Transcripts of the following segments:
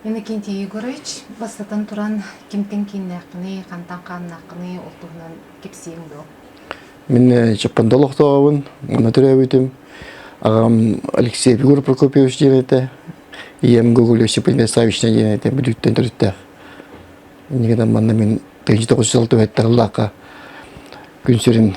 Иннокентий Егорович, бастатан туран, кимтэн кииннээххиний, хантан хааннааххыный, ол туһунан кэпсиэҥ дуо? Мин Чаппанда олохтооҕубун, муна төрөөбүтүм. Ағам Алексей Егоров Прокопьевич диэн этэ, ийэм Гоголь Осиповна Савична диэн этэ, бүдүктэн төрүттээх. Инигиден манна мин 1900 түһэттэ ыллаахха күн сирин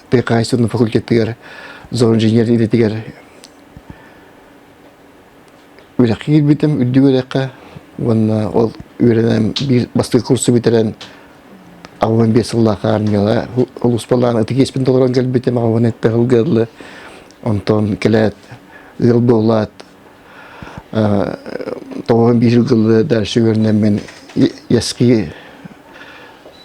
Тайкаайсын факультетыгар зоон инженер идэтигэр үрэххэ киирбитим үрдүк үрэххэ уонна ол үөрэнэн биир бастакы курсу бүтэрэн аҕабан биир сыллаах армияҕа улууспалаан ытык толорон кэлбитим аҕабан этпэ сылгыаллы онтон кэлээт ыал буолаат тоҕо биир гылы дальше үөрэнэммин яски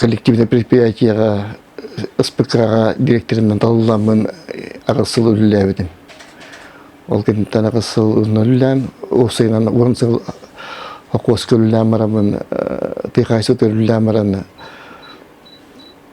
коллективнай предприятиеҕа СПК-ҕа директорынан талылламмын аҕыс сыл үлэлээбитим. Ол кэнниттэн аҕыс сыл онно үлэлээн, уопсайынан уон сыл хокуоска үлэлээн бараммын, тыйаха сытыгар үлэлээн баран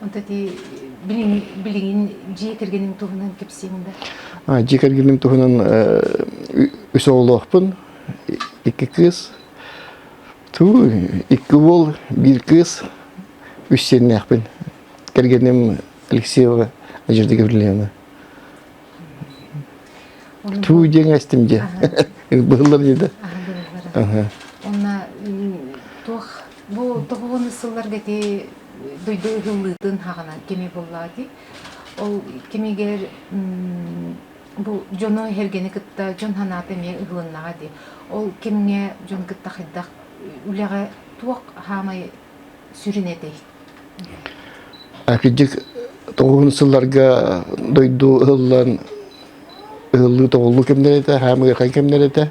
Вот эти билиҥ, билиҥин дьиэ кэргэним туһунан кэпсиэҥ да? Дьиэ кэргэним туһунан үс оҕолоохпун, икки кыыс. Туу, икки уол, биир кыыс, үс сиэннээхпин. Кэргэним Алексеева Надежда Гаврильевна. Туу диэн эстим дьэ. Быһыллар дии да. Онна туох Бу тобоҕону сылларга ити дойду ыһыллыытын хаҕына кими буллаатый? Ол кимигэр бу дьону эргэни кытта дьон санаата эмиэ ыһылыннаҕа дии. Ол кимҥэ дьон кытта хайдах үлэҕэ туох хаамай сүрүн этэй? Акидьик тоҕуһун сылларга дойду ыһыллан ыһыллыы тоҕуллуу кэмнэрэ этэ, хаамыырхай кэмнэрэ этэ.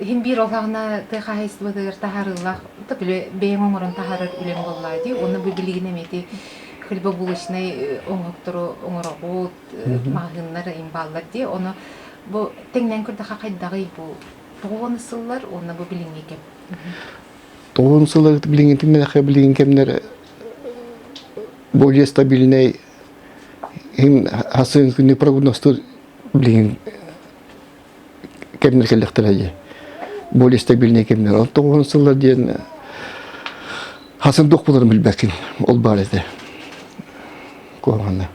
Иһин биир ол саҕана тыа хаһаайыстыбатыгар таһаарыылаах так үлэ бэйэҥ оҥорон таһаарар үлэҥ буоллаа дии. Уонна бу билигин эмиэти хлебобулочнай э, оҥоһуктору оҥороҕут, э, маһыыннар, имбаллар дии. Ону бу тэҥнээн көрдөхө хайдаҕый бу тоҕо уон сыллар уонна бу билиҥҥи кэм? Тоҕун сыла билиҥҥитин мэлэхэ билиҥҥи кэмнэр более стабильный иһин хасыын күнү прогнозтур билиҥҥин кэмнэр кэллэхтэр эйи более стабильный кэмнэр ол тоҕуһун сыллар диэн хасын дуох буларын билбэккин ол баар этэ куһаҕана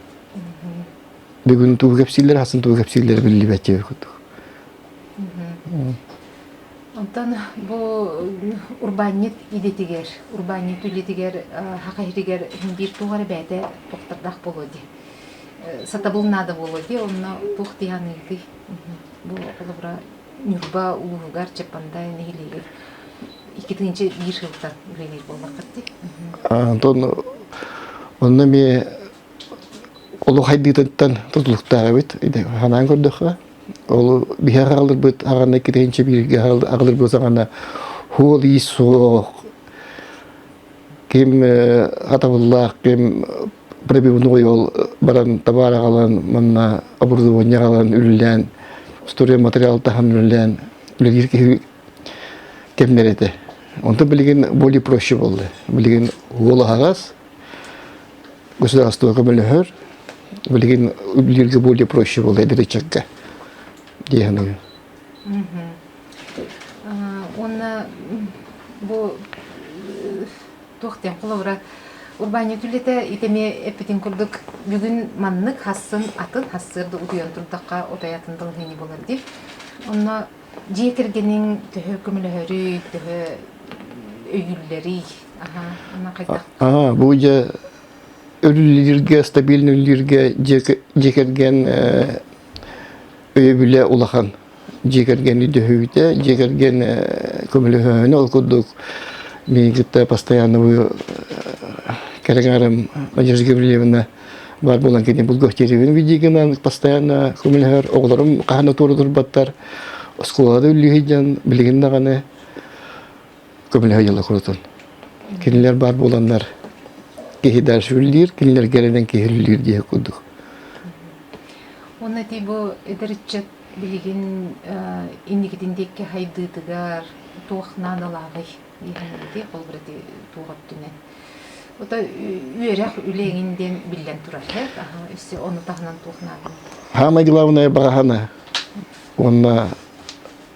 бүгүн туу кэпсииллэр хасын туу кэпсииллэр биллибэттиэ курдук Онтон бу урбаанньыт идэтигэр, урбаанньыт үлэтигэр хахайытыгар биир туох эрэ бэйэтэ тохтордоох буолуо дии. Сатабыл наада буолуо дии, онно туох диһаныытый? Бу холобура Ньурба улууһугар Чапандай нэһилиэгэр икки тыһыынча биир сылтан үлэлиир буоллаххыт дии. Онно эмиэ олох айдыытыттан тутулуктаах эбит. Ханаан көрдөххө, ол биһэр аҕалырбыт аҕаны икки тыһыынча бииргэ аҕалырбыт саҕана хуол иис суох, ким атабыллаах, ким пробивной ол баран табаар аҕалан манна оборудование аҕалан үллээн устуруйа материал таһан үллээн үлэлиир киһи кэмнэр этэ онтон билигин более проще болды билигин уол аһаҕас государство көмөлөһөр билигин үлэлииргэ более проще болды эдэричекке диэхэнэгэ уонна бу Туохтан холобура урбаанньыт үлэтэ ити эмиэ эппитин курдук бүгүн маннык хассын атын хассыыр да утуйан турдахха отой атын балаһыанньа буолар дии. Онно дьиэ кэргэниҥ төһө көмөлөһөрүй, төһө өйүүллэрий? Аһа, онно хайдах? Аһа, бу дьэ өрүүллүүргэ, стабильно үллүүргэ дьиэ дьиэ кэргэн э, өйөбүлэ улахан дьиэ кэргэни дөһүүтэ дьиэ кэргэн көмөлөһөһүнэ ол курдук мин кытта постоянно бу кэрэҥээрим Надежда Гаврильевна баар буолан кини булгахтиирибин бидигинан постоянно көмөлөһөр оҕолорум хаһан отуору турбаттар оскуолада үллүйден билигин даҕаны көмөлөһө дьыла курутун. Кинилэр баар буоланнар киһи дальшүллүүр, кинилэр гэрэнен киһиллүүр диэх курдук. Уонна ти бу эдэрчет билигин инникитин диэкки хайдыытыгар туох наадалааҕый диэхинэйди холбурати туоҕаттунен. Ото үөрэх үлеңин диэн биллэн турар эт, аха өссө ону таһынан туох наадын? Хаамай дылаабынай баҕахана уонна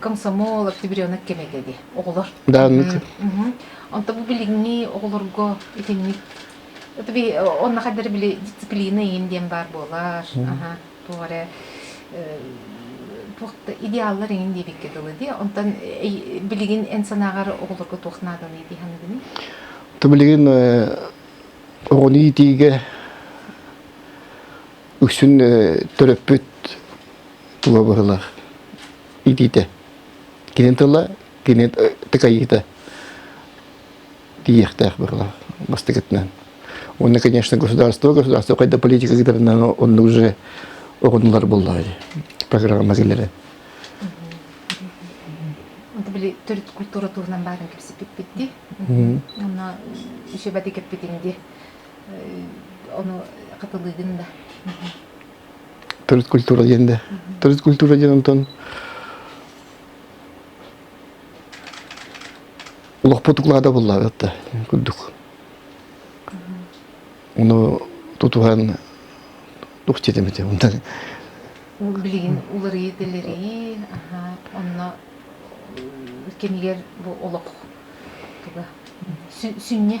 комсомол, октябренок кэмитэ дии, оҕолор. Да, Онто бу билиҥҥи оҕолорго итинник это би онно хаддары били дисциплина иин диэн баар буолар. Аха, туох эрэ туохта идеаллар иҥин диэбикке дылы дии. Онтон билигин эн санааҕар оҕолорго туох наадалыы дии ханыгыный? Ты билигин оҕону иитиигэ үксүн төрөппүт тула бырылах итиитэ кинин тыла кинин тыкайыыта тииэхтээх бырылах бастакытынан уонна конечно государство государство хайда политика кытарынан онну уже оҕунулар буллар программа киллэрэ били төрүт культура турунан баарын кепсиппиппитти онно үсүбати кеппитинди Ону хатылыыгын да. Төрүт культура диэн да. Төрүт культура диэн онтон олохпут уклада буллаабатта курдук. Оны тутуһан тух жетемете унда. Билигин уларыйы тилерии, аха, онно кемилер бу олох туга сүнньэ.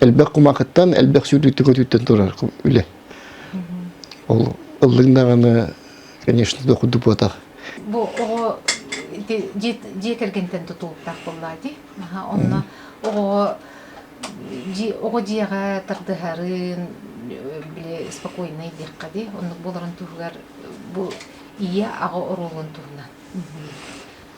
элбэх кумакыттан элбэх сүүрдүктү көтүүттэн турар үлэ ол ыллыҥ даҕаны конечно дохудду буотах бу оҕо дьиэ кэргэнтэн тутуултаах буоллаа дии онно оҕо оҕо дьиэҕэ тардыһарын били спокойнай диэххэ дии оннук буоларын туһугар бу ийэ аҕа оруолун туһунан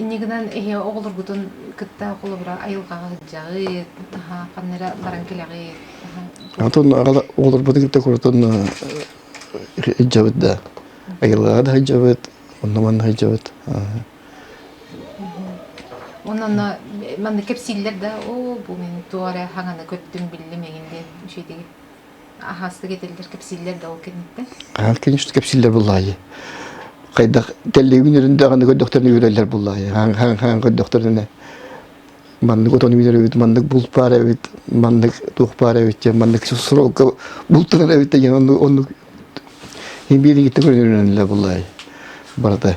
иннигинэн эһиэ оҕолоргутун кытта холобура айылҕаҕа сылдьаҕыт, аһа ханна эрэ баран кэлэҕит, аһа Отон аҕала оҕолорбутун кытта куратан сылдьабыт да. Айылҕаҕа да сылдьабыт, онно-манна сылдьабыт. Онно манна кэпсииллэр да, оо бу мин туох эрэ хаҥаны көттүм, биллим эҥин диэн үчүгэйдик. аһаастык этэллэр кэпсииллэр да ол кэнниттэн аа конечно кэпсииллэр буллаайы хайдах кэллигин үрүндэҕин көрдөхтөрүнэ үрэллэр буллаайы хан көрдөхтөрүнэ маннык отон үүнэр эбит маннык булт баар эбит маннык туох баар эбит диэн маннык соролко бултанар эбит деген оннук оннук имбиэрингитте көрүнүрүнэллэр буллаайы барата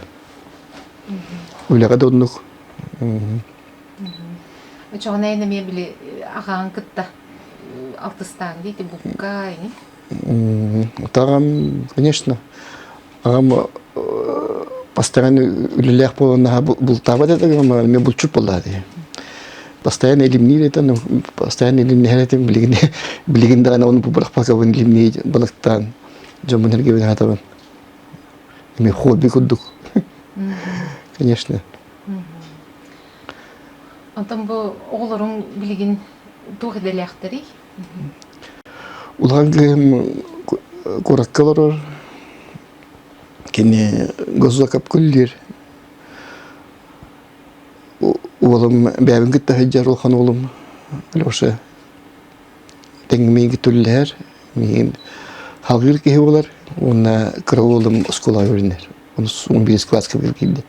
үлэҕэ да оннук Очоҕун эйэн эмиэ били аҕаҕын кытта алтыстааҥ дии ити букка ини. Ытаҕам, конечно, аҕам постоянно үлэлээх буолан наһаа бултаабат этэ гыммар эмиэ булчут буоллаа дии. Постоянно илимниир этэ, но постоянно илимнэһэр этим билигин билигин даҕаны ону бырахпакабын илимнии балыктаан дьоммун эргибин аатабын. Эмиэ хобби курдук. Конечно. Онтон бу оҕолорун билигин туох идэлээхтэрий? Улахан киһим куоракка олорор. Кини госзакапкуллир. Уолум бэйэбин кытта сылдьар улахан уолум Леша. Тэҥмииги түллэр. Миин халыыр киһи болар. Уонна кыра уолум оскула өрүннэр. он бес класска киирдэ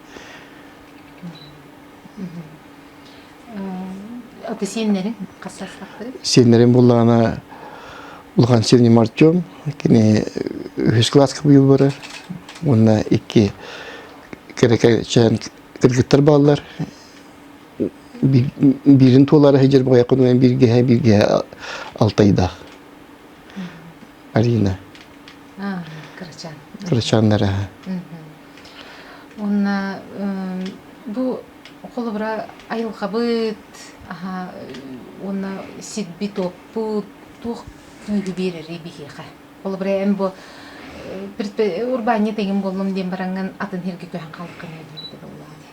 аты сиэннэрин хастарсахтарыт сиэннэрин буллаҕына улахан сирним артем кини үһүс класска быйыл барар уонна икки кэрэкэчээн кыргыттар бааллар биирин туолаары сыдьар баҕайы бииргэһэ бииргэһэ алтайдаах Арина кырачаан кырачааннара уонна бу холобура айылҕабыт уонна сирбит-уоппут туох күүһү биэрэрий биһиэхэ холобура эн бу урбаанньыт эҥин буоллум диэн бараҥҥын атын сиргэ көһөн хаалыаххын диэбитэ да улаатыа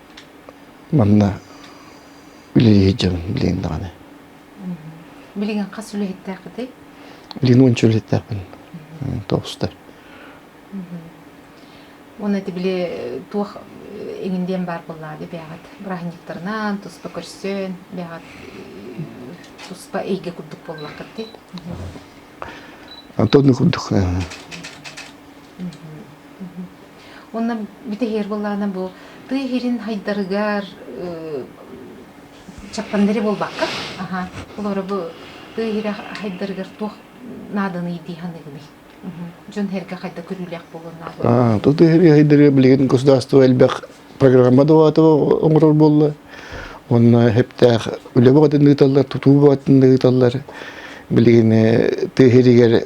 Манна үлэлии сылдьабын билигин даҕаны. Билигин хас үлэһиттээххитий? Билигин уонча үлэһиттээхпин. Тоҕустар. Уонна ити били туох иҥин диэн баар буоллаади бэйэҕит бырааһынньыктарынан туспа көрсөн бэйэҕит туспа эйгэ курдук буоллаххыт дии. Антон курдук. Уонна бүтэһиэр былаана бу тыы иһирин хайдарыгар чаппандери буолбакка, аха, олоро бу тыы иһирэ хайдарыгар туох нааданы дии ханыгыный? Дьон хэргэ хайда көрүүлээх буолуон наада. Ту тыы иһири хайдарыгар билигин государство элбэх программа дуаата оҥорор буолла. Онно хептээх үлэ бөҕөтүн ыыталлар, тутуу бөҕөтүн ыыталлар. Билигин тыыһиригэр